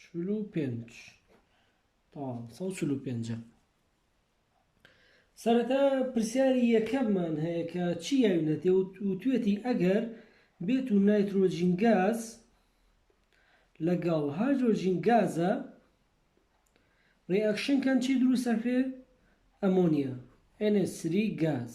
چل و پێنج تەواو سەد و چل و پێنج سەرەتا پرسیاری یەکەممان هەیە کە چی یاوینەتێ وتوێتی ئەگەر بێت و نایترۆجین گاز لەگەڵ هایدرۆجین گازە ڕێئەکشن کەن چی دروستەکرێ ئەمۆنیا NH3 گاز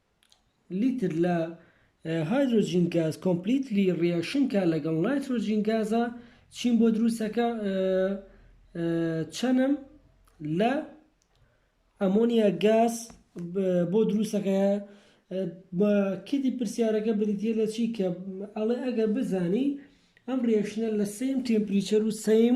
لیتر لە هایدرۆجین گاز کۆمپلیتلی ڕیاکشن کا لەگەڵ نایترۆجین گازا چیم بۆ دروستەکە چەنم لە ئەمۆنیا گاز بۆ دروستەکە بە کدی پرسیارەکە بریتە لە چی کە ئەڵێ ئەگەر بزانی ئەم ڕێشنە لە سیم تمپریچەر و سیم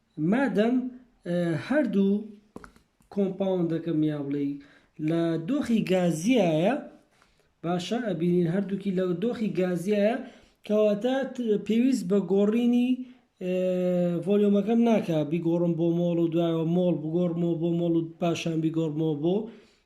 مادەم هەردوو کۆمپاوندەکەم یا بڵێی لە دۆخی گازیایە باشە ئەبینین هەردووکی لە دۆخی گازیایە کەواتە پێویست بە گۆڕینی ڤۆلیۆمەکەم ناکە بیگۆڕم بۆ مۆڵ و دوایەوە مۆڵ بگۆڕمەوە بۆ مۆڵ و پاشان بیگۆڕمەوە بۆ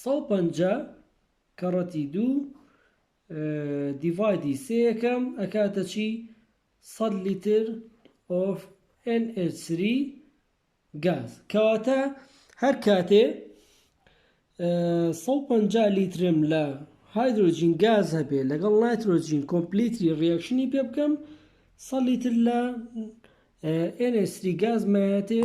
سەد و پەنجا کەڕەتی دوو دیڤایدی سێ یەکەم ئەکاتە چی؟ سەد لیتر ئۆف NH3 گاز کەواتە هەر کاتێ سەد و پەنجا لیترم لە هایدرۆجین گاز هەبێ لەگەڵ نایترۆجین کۆمپلیتری ڕیاکشنی پێ بکەم سەد لیتر لە NH3 گاز مایەتێ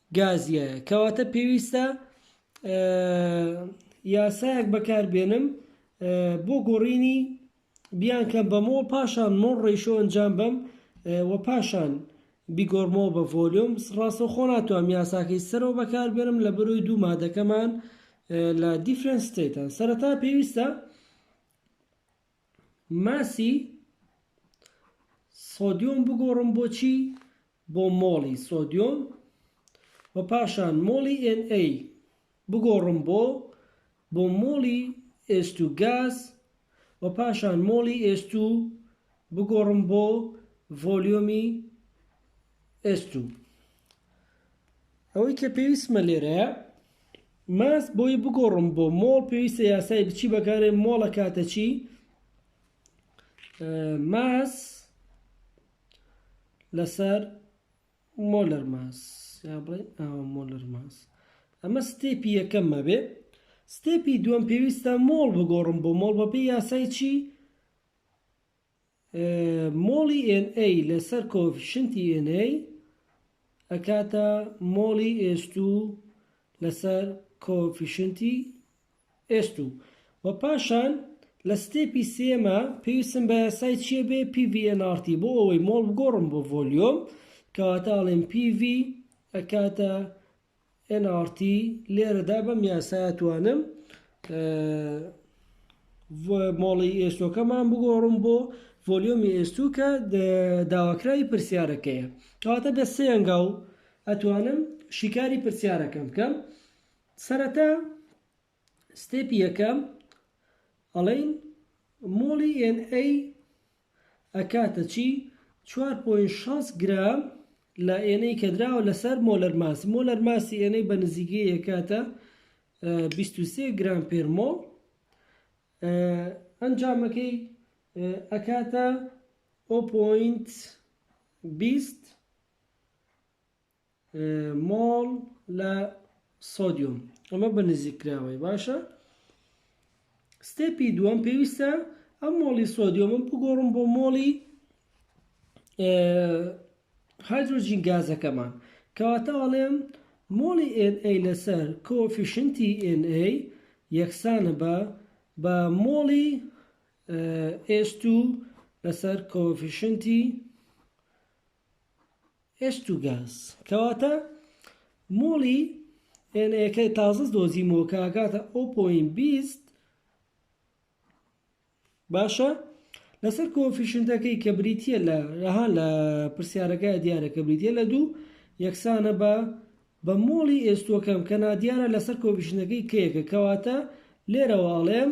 گازیە کەواتە پێویستە یاسایەک بەکار بێنم بۆ گۆڕینی بیانکەم بەمەوە پاشان مۆر ڕیشۆ ئەنجام بەم و پاشان بیگۆڕمەوە بە ڤۆلیۆم ڕاستەخۆ ناتوانم یاساکەی سەرەوە بەکار بێنم لە بەروی دوو مادەکەمان لە دیفرەنس ستەیتان سەرەتا پێویستە ماسی سۆدیۆم بگۆڕم بۆ چی؟ بۆ مۆڵی سۆدیۆم و پاشان مۆڵی ئێن ئەی بگۆڕم بۆ بۆ مۆڵی ئێست و گاز و پاشان مۆڵی ئێست و بگۆڕم بۆ ڤۆلیۆمی ئێست و ئەوەی کە پێویستمە لێرەیە ماست بۆی بگۆڕم بۆ مۆڵ پێویستە یاسای بچی بەکارێ مۆڵە کاتە چی ماس لەسەر مۆلەر ماس یا بڵێ ئاوە مۆلەر ماس ئەمە ستێپی یەکەممە بێ ستێپی دووەم پێویستە مۆڵ بگۆڕم بۆ مۆڵ بەپی یاسای چی مۆڵی ئێن ئەی لەسەر کۆئۆفیشنتی ئێن ئەی ئەکاتە مۆڵی ئێس توو لەسەر کۆئۆفیشنتی ئێس توو وە پاشان لە ستێپی سێمە پێویستم بە یاسای چییە بێ پی ڤی ئێن ئاڕ تی بۆ ئەوەی مۆڵ بگۆڕم بۆ ڤۆلیۆم کەواتە ئەڵێم پی ڤی ئەکاتە nrt لێرەدا بەم یاسایە توانم مۆڵی ئێستۆکەمان بگۆڕم بۆ ڤۆلیۆمی ئێستوو کە داواکراوی پرسیارەکەیە کەواتە بە سێ ئەنگاو ئەتوانم شیکاری پرسیارەکەم بکەم سەرەتا ستێپی یەکەم ئەڵێین مۆڵی ئێن ئەی ئەکاتە چی؟ چوار پۆینت شەست گرام لە ئێن ئەی کە دراوە لەسەر مۆلەر ماسی مۆلەر ماسی ئێن ئەی بە نزیکەی ئەکاتە بیست و سێ گرام پێر مۆڵ ئەنجامەکەی ئەکاتە ئەو پۆینت بیست مۆڵ لە سۆدیۆم ئەمە بە نزیک کراوەی باشە ستێپی دووەم پێویستە ئەم مۆڵی سۆدیۆمم بگۆڕم بۆ مۆڵی هایدرۆجین گازەکەمان کەواتە ئەڵێم مۆڵی NA لەسەر کۆفیشنتی NA یەکسانە بە بە مۆڵی S2 لەسەر کۆفیشنتی ئێشت و گاز، کەواتە مۆڵی ئێنەیەکەی تازە دۆزیمەوە کە ئەگاتە ئەو پۆین بیست باشە لەسەر کۆفیشنتەکەی کە بریتە لە رەها لە پرسیارەکە دیارە کە بریتە لە دوو یەکسانە بە بە مۆڵی ئێستۆکەم کە نادیارە لەسەر کۆفیشنەکەی کەیەکە کەواتە لێرەواڵێم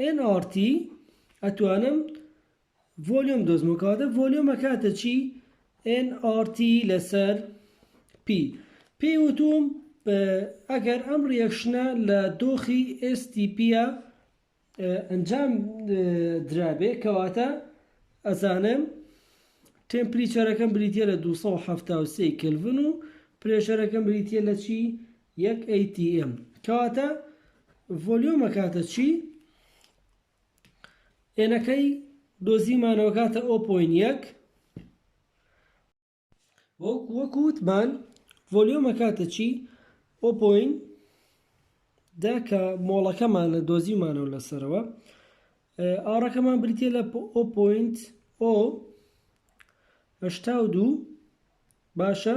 ئێن ئاڕ تی ئەتوانم ڤۆلیۆم دۆزمەوە کەواتە ڤۆلیۆم ئەکاتە چی ئێن ئاڕ تی لەسەر پی پێی وتوم ئەگەر ئەم ڕیەکشنە لە دۆخی ئێستی پیە ئەنجام درابێ کەواتە ئەزانم تێمپریچەرەکەم بریتە لە 273 کلڤن و پرێشەرەکەم بریتە لە چی یەک ئەی تی ئێم کەواتە ڤۆلیۆم ئەکاتە چی؟ ئێنەکەی دۆزیمانەوە کاتە ئۆ پۆین یەک وەک وەکو وتمان ڤۆلیۆمە کاتە چی ئۆ پۆین دا کە مۆڵەکەمان لە دۆزیمانەوە لەسەرەوە ئاڕەکەمان بریتە لە ئۆ پۆینت ئۆ هەشتا و دوو باشە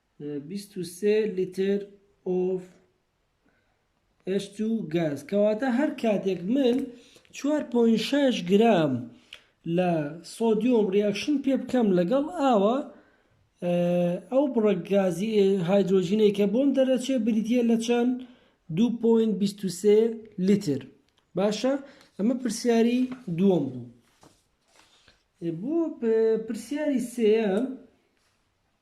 بیست و سێ لیتر of H2 gas کەواتە هەر کاتێک من چوار پۆین شەش گرام لە سۆدیۆم ڕیاکشن پێ بکەم لەگەڵ ئاوە ئەو بڕە گازی هایدرۆژینەی کە بۆم دەرەچێ بریتە لە چەند دو پۆین بیست و سێ لیتر باشە ئەمە پرسیاری دووەم بوو بۆ پرسیاری سێیەم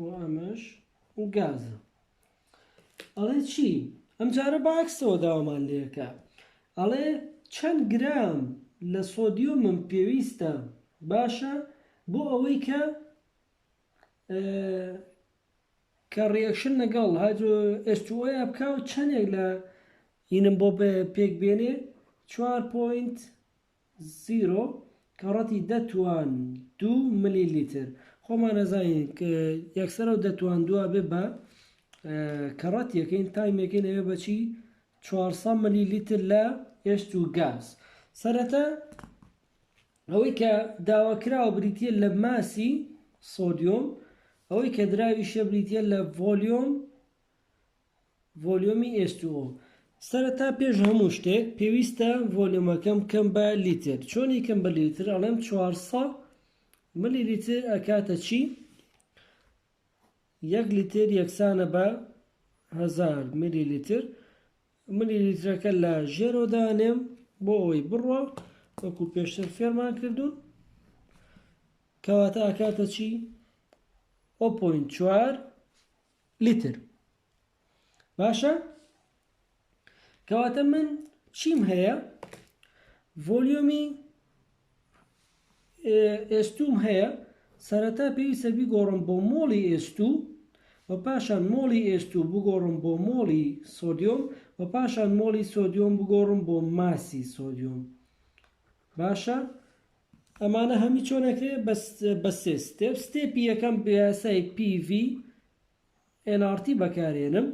و ئەمەش گازە ئەڵێ چی ئەمجارە بە عەکسەوە داوامان لێکە ئەڵێ چەند گرام لە سۆدیۆمم پێویستە باشە بۆ ئەوەی کە کە ڕیەکشن لەگەڵ هایدرۆ ئێستوۆیا بکە و چەندێک لە یینم بۆ پێک بێنێ 4.5 زیرۆ، کەڕەتی دە توان دوو ملی لیتر، خۆمان ئەزانین ک یەکسەر ئەو دە توان دووە ئەبێ بە کەڕەت یەکەین تایم یەکەین ئەبێ بە چی چوار سەد ملی لیتر لە ئێشت و گاز سەرەتا ئەوەی کە داواکراوە بریتە لە ماسی سۆدیۆم ئەوەی کە دراویشە بریتە لە ڤۆلیۆم ڤۆلیۆمی ئێس تو ئۆ. سەرەتا پێش هەموو شتێک پێویستە ڤۆلیۆمەکەم بکەم بە لیتر چۆنی کەم بە لیتر ئەڵێم چوار سە ملی لیتر ئەکاتە چی یەک لیتر یەکسانە بە هەزار ملی لیتر ملی لیترەکە لە ژێرۆ دانێم بۆ ئەوەی بڕوە وەکو پێشتر فێرمان کردوون کەواتە ئەکاتە چی ئۆ پۆین چوار لیتر باشە کەواتە من چیم هەیە ڤۆلیۆمی ئێستوم هەیە سەرەتا پێویستە بیگۆڕم بۆ مۆڵی ئێستو و پاشان مۆڵی ئێستو بگۆڕم بۆ مۆڵی سۆدیۆم و پاشان مۆڵی سۆدیۆم بگۆڕم بۆ ماسی سۆدیۆم باشە ئەمانە هەمووی چۆن ئەکرێ بە سێ ستێپ ستێپی یەکەم یاسای PV nRT بەکارێنم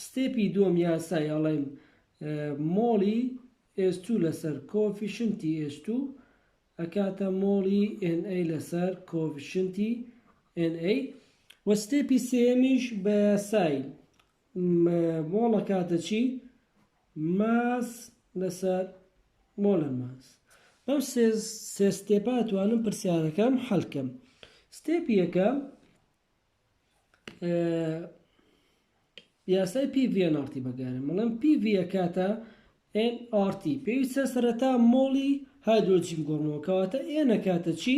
ستێپی دووەم یاسای ئەڵێم مۆڵی S2 لەسەر کۆفیشنتی S2 ئەکاتە مۆڵی NA لەسەر کۆفیشنتی NA و ستێپی سێمیش بە یاسای مۆڵە کاتە چی؟ ماس لەسەر مۆلە ماس بەم سێ سێ ستێپە توانم پرسیارەکەم حەلکەم ستێپ یەکەم یاسای پی ڤێن ئارتی بەگارم بەڵام پی ڤە کاتە ئێن ئارتی پێویستە سەرەتا مۆڵی هایدرۆجین گۆڕمەوە کەواتە ئێنە کاتە چی؟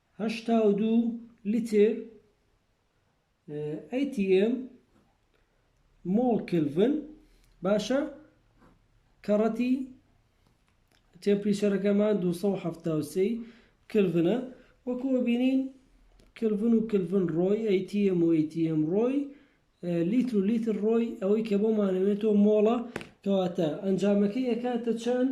هەشتا و دوو لیتر atm مۆڵ کلڤن باشە کەڕەتی تێمپریچەرەکەمان دوو سەد و حەفتا و سێ کلڤنە وەکو بینین کلڤن و کلڤن ڕۆی atm و atm ڕۆی لیتر و لیتر ڕۆی ئەوەی کە بۆمانەوێتەوە مۆڵە کەواتە ئەنجامەکەی ئەکاتە چەند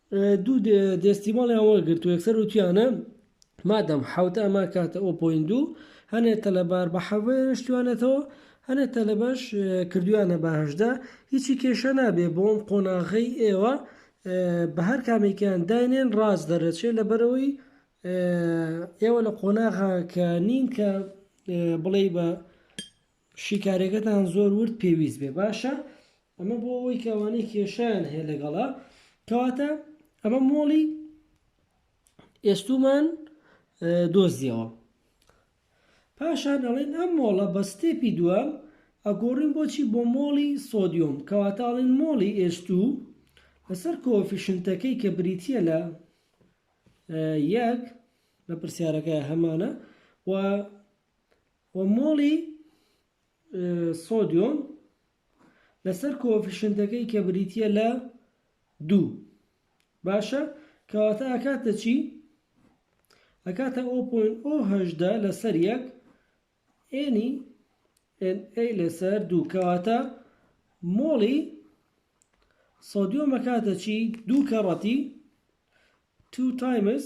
دوو دێستیماڵیان وەرگرت و یەکسەر وتویانە مادەم حەوت ئەمە کاتە ئەو پۆین دوو هەنێ تەلەبار بە حەوێ شتوانێتەوە هەنێ تەلەبەش کردویانە بەهشدا هیچی کێشە نابێ بۆم قۆناغی ئێوە بە هەر کامێکیان داینێن ڕاست دەرەچێت لە بەرەوەی ئێوە لە قۆناغا کە نین کە بڵێ بە شیکارێکەتان زۆر ورد پێویست بێ باشە ئەمە بۆ ئەوەی کە ئەوانەی کێشەیان هەیە لەگەڵا کەواتە ئەمە مۆڵی ئێستومان دۆزیەوە پاشان دەڵێن ئەم مۆڵە بە ستێپی دووەم ئەگۆڕین بۆچی بۆ مۆڵی سۆدیۆم کەواتاڵین مۆڵی ئێستو لەسەر کۆفیشنتەکەی کە بریتە لە یەک لە پرسیارەکە هەمانە و و مۆڵی سۆدیۆم لەسەر کۆئۆفیشنتەکەی کە بریتییە لە دوو باشە کەواتە ئەکاتە چی؟ ئەکاتە ئۆ پۆین ئۆ هەژدە لەسەر یەک ئێنی ئێن ئەی لەسەر دوو کەواتە مۆڵی سۆدیۆم ئەکاتە چی؟ دوو کەڕەتی two times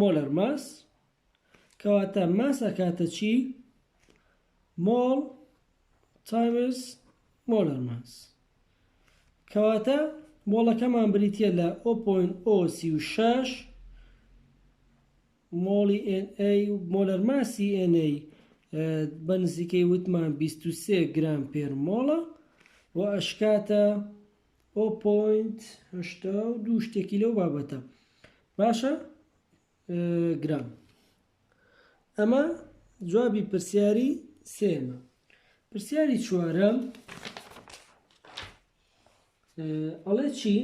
مۆلەر ماس کەواتە ماس ئەکاتە چی؟ مۆڵ تایمز مۆلەر ماس کەواتە مۆڵەکەمان بریتە لە 0.036 مۆڵی NA و مۆلەر ماسی NA بە نزیکەی وتمان 23 گرام پێر مۆڵە و ئەشکاتە ئۆ پۆینت هەشتا و دوو شتێکی لەو بابەتە باشە گرام ئەمە جوابی پرسیاری سێمە پرسیاری چوارەم ئەڵێ چی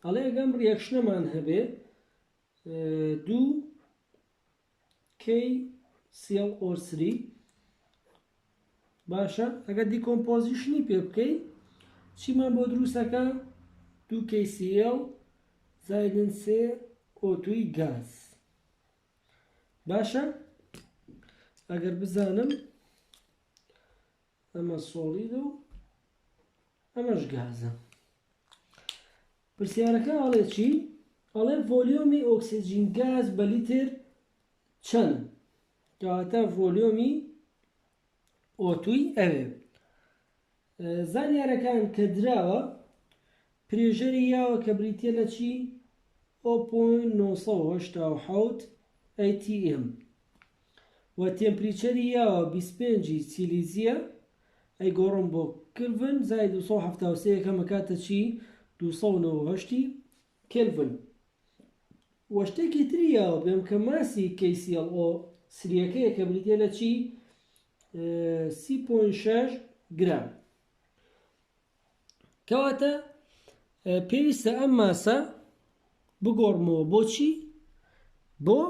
ئەڵێ ئەگەم ڕیەکشنەمان هەبێ دوو کەی سیڵ ئۆ سری باشە ئەگەر دیکۆمپۆزیشنی پێ بکەی چیمان بۆ دروستەکە دوو کەی سیڵ زایدن سێ ئۆتوی گاز باشە ئەگەر بزانم ئەمە سۆڵیدە و ئەمەش گازە پرسیارەکە ئەڵێ چی؟ ئەڵێ ڤۆلیۆمی ئۆکسجین گاز بە لیتر چەند کەواتە ڤۆلیۆمی ئۆتوی ئەوێ زانیارەکان کە دراوە پرێژەری یاوە کە بریتە لە چی؟ 0.987 ATM وە تێمپریچەری یاوە بیست پێنج ی سیلیزیە ئەیگۆڕم بۆ کلڤن زائید دوو سەد و حەفتا و سێ یەکەم ئەکاتە چی دوو سەد و نەوەد و هەشت ی کلڤن وە شتێکی تری یاوە بێم کە ماسی KClO سریەکەیە کە بریتیە لە چی سی پۆینت شەش گرام کەواتە پێویستە ئەم ماسە بگۆڕمەوە بۆچی بۆ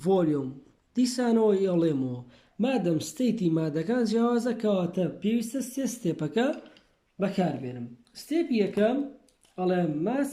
ڤۆلیۆم دیسانەوە ئێڵێمەوە مادەم ستەیتی مادەکان جیاوازە کەواتە پێویستە سێ ستێپەکە بەکاربێنم ستێپ یەکەم ئەڵێ ماس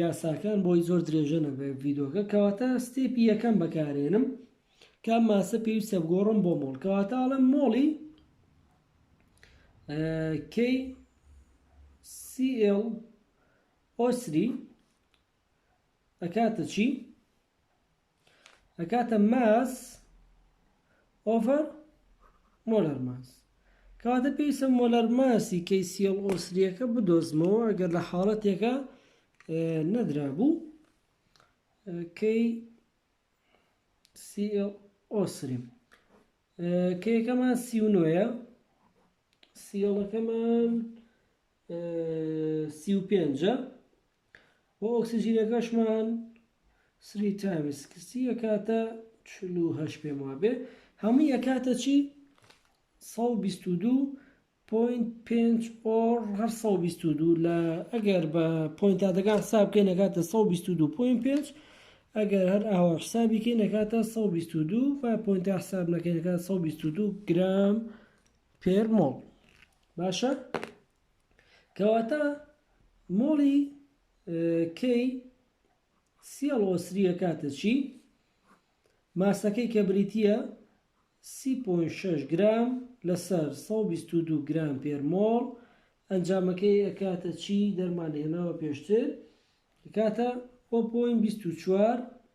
یاساکان بۆی زۆر درێژە نەبێت ڤیدۆکە کەواتە ستێپی یەکەم بەکارێنم کام ماسە پێویستە بگۆڕم بۆ مۆڵ کەواتە ئەڵم مۆڵی کەی سیل ئۆسری ئەکاتە چی ئەکاتە ماس ئۆڤەر مۆلەر ماس کەواتە پێویستە مۆلەر ماسی کەیسیڵ ئۆسریەکە بدۆزمەوە ئەگەر لە حاڵەتێکە نەدرا بوو کەی سیڵ ئۆسری کەیەکەمان سی و نۆیە سیڵەکەمان سی و پێنجە و ئۆکسجینەکەشمان سری تایمز سکستی ئەکاتە چل و هەشت پێم وابێ هەمووی ئەکاتە چی سەد و بیست و دوو پۆینت پێنج ئۆر هەر سەد و بیست و دوو لە ئەگەر بە پۆینتاتەکان حساب بکەین ئەکاتە سەد و بیست و دوو پۆینت پێنج ئەگەر هەر ئاوا حسابی کەین ئەکاتە سەد و بیست و دوو با پۆینتا حساب نەکەین ئەکات سەد و بیست و دوو گرام پێر مۆڵ باشە کەواتە مۆڵی کەی سیڵ وەسریە کاتە چی ماسەکەی کە بریتە سی گرام لەسەر 122 گرام پێر مۆڵ ئەنجامەکەی ئەکاتە چی دەرمان هێناوە پێشتر کاتە 24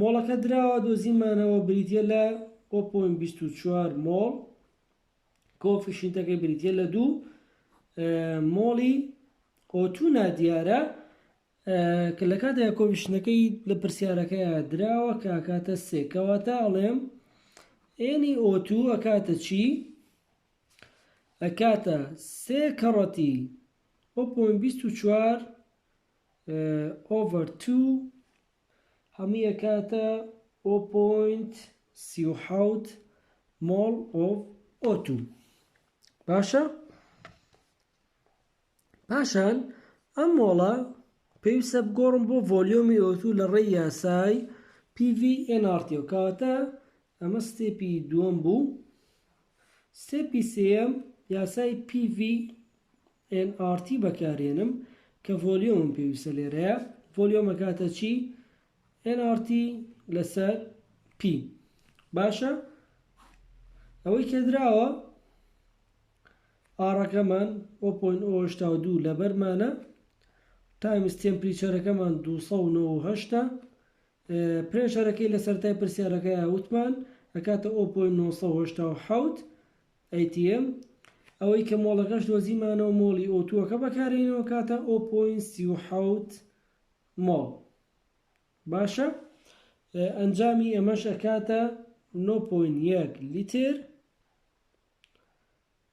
مۆڵەکە دراوە دۆزیمانەوە بریتیە لە، و پۆینت بیست و چوار مۆڵ، کۆفیشینتەکەی بریتیە لە دوو مۆڵی ئۆتو نادیارە کە لە کاتێک کۆفیشنەکەی لە پرسیارەکەیان دراوە کە کاتە سێ کەواتە ئەڵێم ئێنی ئۆتو ئەکاتە چی ئەکاتە سێ کەڕەتی ئۆپۆین بیست و چوار ئۆڤەر تو هەمووی ئەکاتە ئۆ پۆینت سی و حەوت مۆڵ ئۆف ئۆ توو باشە پاشان ئەم مۆڵە پێویستە بگۆڕم بۆ ڤۆلیۆمی ئۆ توو لە ڕێی یاسای پی ڤی ئێن ئاڕ تی و کەواتە ئەمە ستێپی دووەم بوو ستێپی سێەم یاسای پی ڤی ئێن ئاڕ تی بەکارێنم کە ڤۆلیۆمم پێویستە لێرەیە ڤۆلیۆم ئەکاتە چی؟ ئێن ئاڕ تی لەسەر پی باشە ئەوەی کە دراوە ئاڕەکەمان ئۆ پۆین ئۆ هەشتا و دوو لەبەرمانە تایمز تێمپریچەرەکەمان دوو سەد و نەوە و هەشتا پرێشەرەکەی لە سەرەتای پرسیارەکەیا وتمان ئەکاتە ئۆ پۆینت نۆ سەد و هەشتا و حەوت atm، ئەوەی کە مۆڵەکەش دۆزیمانەوە مۆڵی ئۆتووەکە بەکارێنەوە ئەکاتە ئۆ پۆینت سی و حەوت مۆڵ باشە ئەنجامی ئەمەش ئەکاتە نۆ پۆینت یەک لیتر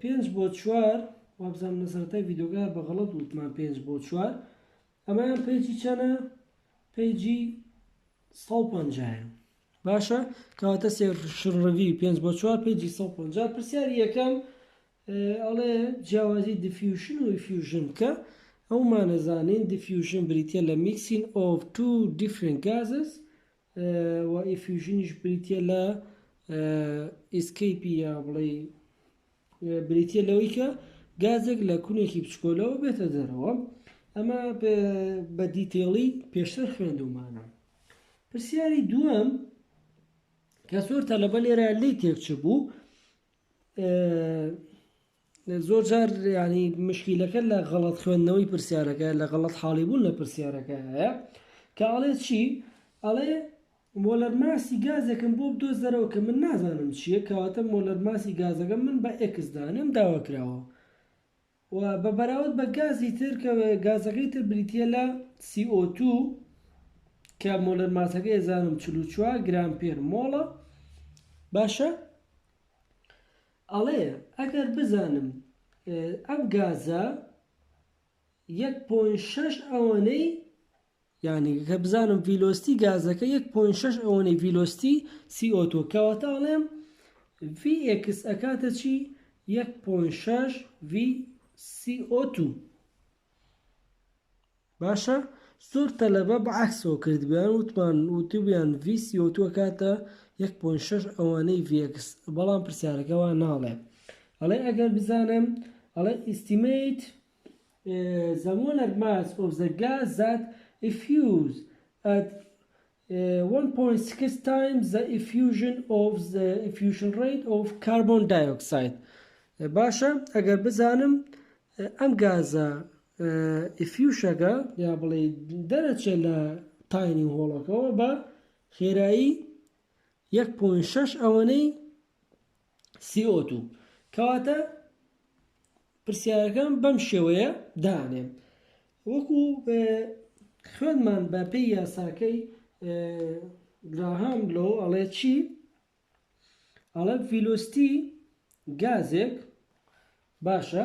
پێنج بۆ چوار وابزانم لە سەرەتای ڤیدۆگە بە غەڵەت وتمان پێنج بۆ چوار ئەمەیان پێجی چەنە پێجی سە و پەنجایە باشە کەواتە سێشڕەوی پێنج بۆ چوار پێجی سە و پەنجا پرسیاری یەکەم ئەڵێ جیاوازی دیفیوشن و فیوژن بکە ئەومانەزانین دیفیوژن بریتە لە میکسین ئۆف تو دیفرنت گازس و ئیفیوژنیش بریتیە لە ئیسکەیپی یا بڵێی بریتیە لەوەی کە گازێک لە کونێکی بچکۆلەوە بێتە دەرەوە ئەمە بە دیتێڵی پێشتر خوێندومانە پرسیاری دووەم کە زۆر تەلەبە لێرە لی تێکچ بوو زۆر جار یانی مشکیلەکە لە غەڵەت خوێندنەوەی پرسیارەکە لە غەڵەت حاڵی بوون لە پرسیارەکەیە کە ئەڵێ چی ئەڵێ مۆلەر ماسی گازێکم بۆ بدۆزەرەوە کە من نازانم چییە کەواتە مۆلەر ماسی گازەکە من بە ئێکس دانێم داوا کراوە و بە بەراورد بە گازی تر کە گازەکەی تر بریتە لە CO2 کە مۆلەر ماسەکە ێزانم 44 گرام پێر مۆڵە باشە ئەڵێ ئەگەر بزانم ئەم گازە یەک پۆین شەش ئەوەنەی یعنی کە بزانم ڤیلۆستی گازەکە یەک پۆین شەش ئەوەنەی ڤیلۆستی سیئۆتۆ کەواتە ئەڵێم ڤی ئێکس ئەکاتە چی یەک پۆین شەش ڤی سیئۆتو باشە زۆر تەلەبە بە عەکسەوە کردبیان وتمان وتبیان ڤی سی ئۆ تو ئەکاتە یەک پۆینت شەش ئەوانەی ڤی ئێکس بەڵام پرسیارەکە وا ناڵێ ئەڵێ ئەگەر بزانم ئەڵێ ئیستیمەیت زە مۆلەر ماس ئۆف زە گاز زات ئیفیوز ئەت وەن پۆینت سکس تایمز زە ئیفیوژن ئۆف زە ئیفیوژن ڕەیت ئۆف کاربۆن دایۆکساید باشە ئەگەر بزانم ئەم گازە ئیفیوشەگە یا بڵێ دەرەچێ لە تاینی هۆڵەکەەوە بە خێرایی یەک پۆینت شەش ئەوەنەی سی ئۆ توو کەواتە پرسیارەکەم بەم شێوەیە دانێم وەکو خوێنمان بە پێی یاساکەی گراهام لۆ ئەڵێ چی ئەڵە ڤیلۆستی گازێک باشە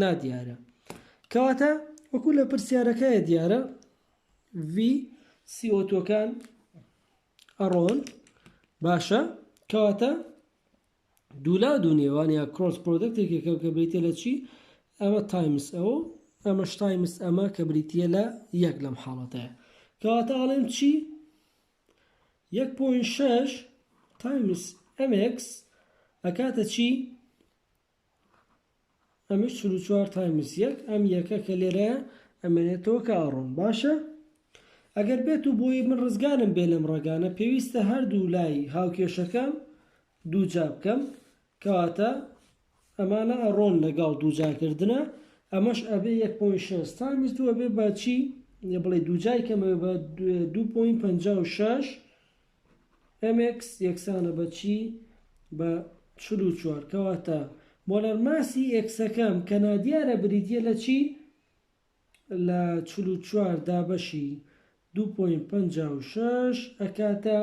نادیارە کەواتە وەکو لە پرسیارەکەیە دیارە ڤی سی ئۆتۆکان ئەڕۆن باشە کەواتە دولا دوو نێوان یا کرۆس پرۆدەکتێکێکە کە بریتە لە چی ئەمە تایمس ئەوە ئەمەش تایمس ئەمە کە بریتە لە یەک لەم حاڵەتەیە کەواتە ئاڵێم چی یەک پوین شش تایمس ئەمکس ئەکاتە چی ئەمەش چل و چوار تایمس یەک ئەم یەکە کە لێرەیە ئەمێنێتەوە کە ئەڕۆم باشە ئەگەر بێت و بۆی من ڕزگارم بێ لەم ڕێگانە پێویستە هەردوو لای هاوکێشەکە دوو جا بکەم کەواتە ئەمانە ئەڕۆن لەگەڵ دوو جاکردنە ئەمەش ئەبێ یەک پۆین شەست تایمس دووە بێ باچی بڵێ دوو جای کەمەوە بە دوو پۆین پەنجا و شەش mx یەکسانە بە چی؟ بە چل و چوار کەواتە مۆلەرماسی ئێکسەکەم کە نادیارە بریتییە لە چی؟ لە چل و چوار دابەشی دوو پۆینت پەنجا و شەش ئەکاتە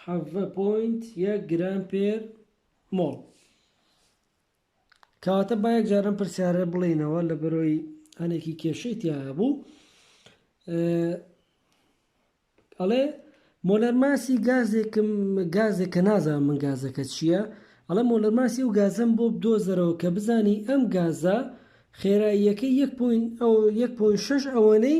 حەڤە پۆینت یەک گرام پێر مۆڵ. کەواتە با یەکجار ئەم پرسیارە بڵێینەوە لە بەرۆی هەنێکی کێشەی تیابوو ئەڵێ مۆلەرماسی گازێکم گازێک کە نازان من گازەکە چییە ئەڵە مۆلەرماسی و گازم بۆ بدۆزەرەوە کە بزانی ئەم گازە خێراییەکە 1.6 ئەوەنەی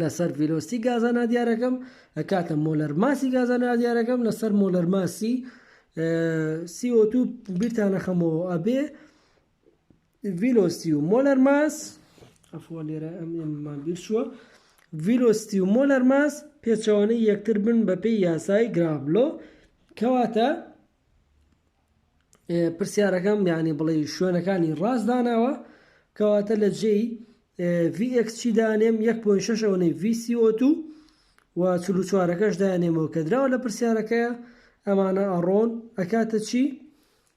لەسەر ڤیلۆسیتی گازە نادیارەکەم ئەکاتە مۆلەر ماسی گازە نادیارەکەم لەسەر مۆلەر ماسی CO2 بیرتانە خەمەوە ئەبێ ڤیلۆستی و مۆلەر ماس ئەفۆ لێرە ئەممان بیرچووە ڤیلۆستی و مۆلەر ماس پێچەوانەی یەکتر بن بەپێی یاسای گرابلۆ کەواتە پرسیارەکەم یانی بڵێ شوێنەکانی ڕاست داناوە کەواتە لە جێی VX چی دانێم 1.6 ئەوەی VCO2 و چوارەکەش دانێمەوە کە دراوە لە پرسیارەکەیە ئەمانە ئەڕۆن ئەکاتە چی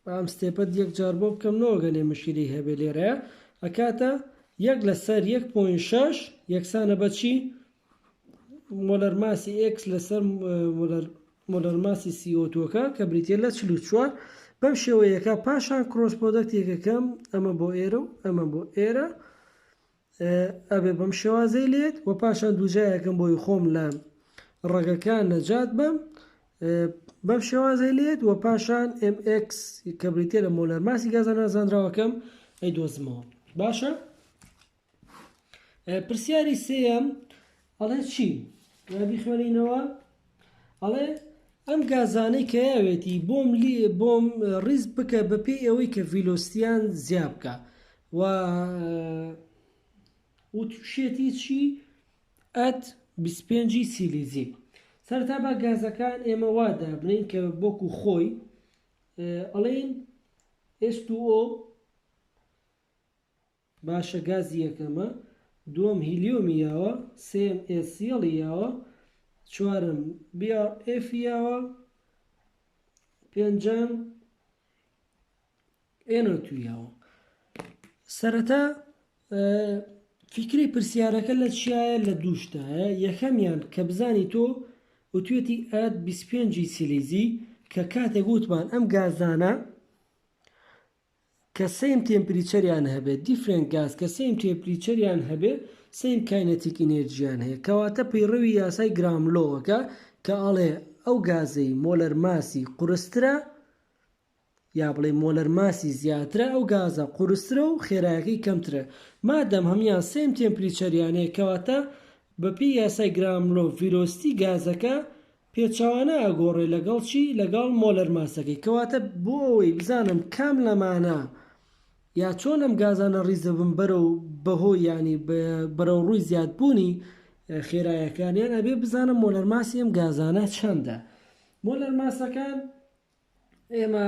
بام ستێپەت یەک جار بۆ بکەم نەوەگەنێ مشکلی هەبێ لێرە ئەکاتە یەک لەسەر 1.6 یەکسانە بەچی مۆلەر ماسی ئێکس لەسەر مۆلەر ماسی سی ئۆ تووەکە کە بریتیە لە چل و چوار بەم شێوەیەکە پاشان کرۆس پۆدەکتێکەکەم ئەمە بۆ ئێرە و ئەمە بۆ ئێرە ئەبێ بەم شێوازەی لێت و پاشان دووجایەکەم بۆی خۆم لە ڕەگەکان نەجات بم بەم شێوازەی لێت و پاشان MX کە بریتێ لە مۆلەر ماسی گازە نازانراوەکەم ئەی دۆزمەوە باشە پرسیاری سێیەم ئەڵێ چی؟ بیخوێنینەوە ئەڵێ ئەم گازانەی کە یاوێتی بۆم بۆم ڕیز بکە بە پێی ئەوەی کە ڤیلۆستیان زیاب بکە و وتوشێتی چی ئەت 25 سیلیزی سەرتا بە گازەکان ئێمە وادا بنین کە بۆکو خۆی ئەڵین ئێست ئۆ باشە گازی یەکەمە دووەم هیلیۆمی یاوە سێیەم ئێسیەڵی یاوە چوارەم بی ئاڕ ئێفی یاوە پێنجەم ئێنۆ تو یاوە سەرەتا فیکری پرسیارەکە لە چیایە لە دووشتایە یەکەمیان کە بزانی تۆ وتوێتی ئەت 25 سیلیزی کە کاتێک وتمان ئەم گازانە کە سەیم تێمپریچەریان هەبێت Different Gas کە سەیم تێمپریچەریان هەبێ سەیم کاینەتیک ئینێرجیان هەیە کەواتە پەیڕەوی یاسای گرام لۆوەکە کە ئەڵێ ئەو گازەی مۆلەر ماسی قورسترە یا بڵێ مۆلەر ماسی زیاترە ئەو گازە قورسترە و خێرایەکەی کەمترە مادەم هەمان سەیم تێمپریچەریان هەیە کەواتە بەپێی یاسای گرام لۆ ڤیلۆستی گازەکە پێچەوانە ئەگۆڕێ لەگەڵ چی لەگەڵ مۆلەر ماسەکەی کەواتە بۆ ئەوەی بزانم کام لەمانە یا چۆن ئەم گازانە ڕیز دەبن بەرەو بەهۆی یانی بەرەو ڕووی زیاد بوونی خێرایەکانیان ئەبێ بزانم مۆلەر ماسی ئەم گازانە چەندە مۆلەر ماسەکان ئێمە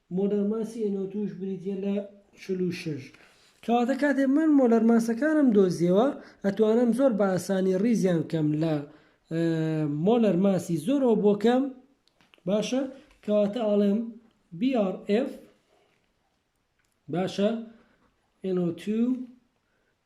مۆلەرماسی ئێنۆ تووش بریتیە لە چل و شەش. کەواتە کاتێ من مۆلەرماسەکانم دۆزیەوە ئەتوانم زۆر بە ئاسانی ڕیزیان بکەم لە مۆلەرماسی زۆرەوە بۆ کەم باشە کەواتە ئاڵێم BRF باشە NO2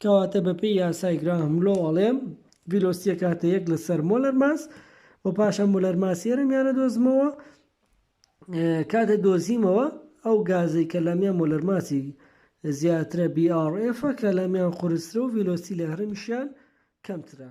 کەواتە بە پێی یاسای گراهام لۆ ئەڵێم ڤیلۆستی ئەکاتە یەک لە سەر مۆلەر ماس و پاشان مۆلەر ماسی ئێرەمیان ئەدۆزمەوە کاتێ دۆزیمەوە ئەو گازەی کە لەمیان مۆلەر ماسی زیاترە BRF کە لەمیان قورسترە و ڤیلۆستی لە هەرەمیشیان کەمترە